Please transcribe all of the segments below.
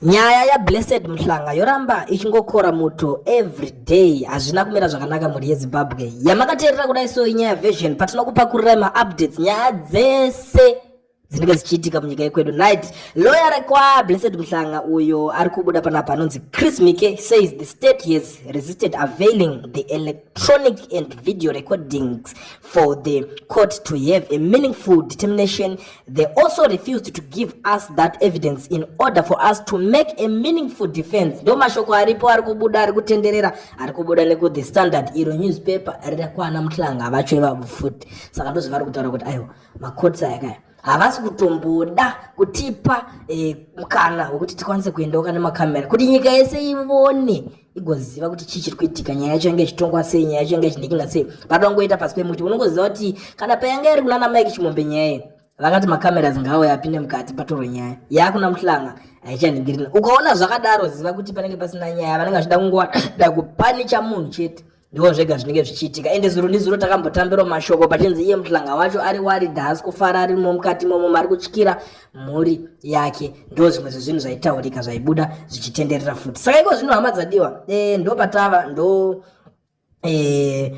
Nyaya ya Blessed Mhlanga yoramba ichingokora muto every day. Hazvina kumira zvakanaka mhuri yeZimbabwe. Yamakateerera kudai so inyaya version patinokupakurira ma updates nyaya dzese dzinenge dzichiitika munyika yekwedu night lawyer rekwa blessed mhlanga uyo ari kubuda panapa anonzi chris mike says the state has resisted availing the elect electronic and video recordings for the court to have a meaningful determination. They also refused to give us that evidence in order for us to make a meaningful defense. Ndo mashoko aripo ari kubuda ari kutenderera ari kubuda neku the standard iro newspaper rira kwana mutlanga vacho ivavo futi saka ndozvo vari kutaura kuti aiwa macourts aya kaya havasi kutomboda kutipa eh, mukana wekuti tikwanise kuendawo kana makamera kuti nyika yese ivone igoziva kuti chii chiri kuitika nyaya yacho yange ichitongwa sei nyaya yacho yange ichindikinga sei patongoita pasi pemuti unongoziva kuti kana payanga iri kunana mike chimombe nyaya iyi vakati makamera dzingawo yapinde mukati patoro nyaya yaakuna muhlanga haichaningirina ukaona zvakadaro ziva kuti panenge pasina nyaya vanenge vachida kungoda kupanicha munhu chete ndiwo zvega zvinenge zvichiitika ende zuro ndizuro takambotambirwa mashoko pachinzi iye muhlanga wacho ari waridha haasi kufara arimo mukati momo mari kutyira mhuri yake ndo zvimwe zvezvinhu zvaitaurika zvaibuda zvichitenderera futi saka iko zvino hama dzadiwa e, eh, ndo patava ndo Eh,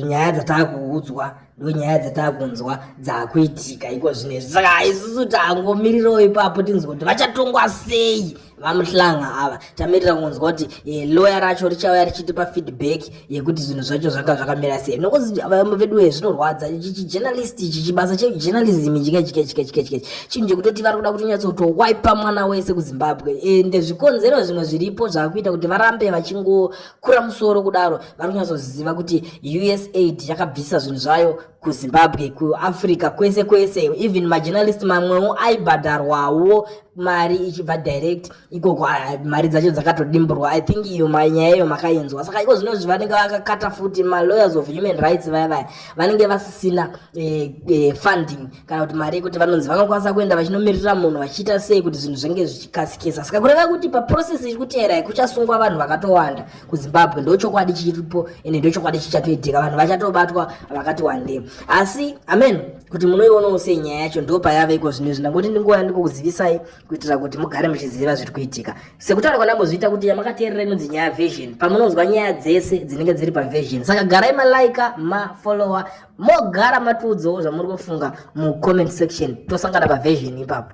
nyaya dzatakuudzwa ndo nyaya dzatakunzwa dzakuitika iko zvinezvi saka isusu tangomirirawo ipapo tinzwa kuti vachatongwa sei vamuhlanga ava tamirira kunzwa kuti eh, loya racho richauya richitipa feedback yekuti zvinhu zvacho zvanga zvakamira sei nokuti vamwe vedu wee zvinorwadza chijournalist ichi chibasa chejournalism chikechikechikechikechi chinhu chekutoti vari kuda kutonyatsotowaipa mwana wese kuzimbabwe ende eh, zvikonzero zvimwe zviripo zvakuita kuti varambe vachingokura musoro kudaro vari kunyatsoziva kuti usaid yakabvisa zvinhu zvayo kuzimbabwe kuafrica kwese kwese even majournalist mamwewo aibhadharwawo mari ichibva direct ikoko ah, mari dzacho dzakatodimburwa i think iyo nyaya iyo makainzwa saka iko zvino zvi vanenge vakakata futi malawyers of human rights vaya vaya vanenge vasisina eh, eh, funding kana kuti mari yekuti vanonzi vanokwanisa kuenda vachinomirira munhu vachiita sei kuti zvinhu zvange zvichikasikisa saka kureva kuti paprocess iri kuteera kuchasungwa vanhu vakatowanda kuzimbabwe ndochokwadi chiripo ende ndochokwadi chichatoitika vanhu vachatobatwa vakati wande asi amen kuti munoionawo sei nyaya yacho ndo payave iko zvino izvi ndangoti ndinguva yandiko kuzivisai kuitira kuti mugare muchiziva zviri kuitika sekutaura kwanambozviita kuti yamakateerera inonzi nyaya vision pamunonzwa nyaya dzese dzinenge dziri pavision saka garai malaika mafollower mogara matiudzawo zvamuri kufunga mucomment section tosangana pavision ipapo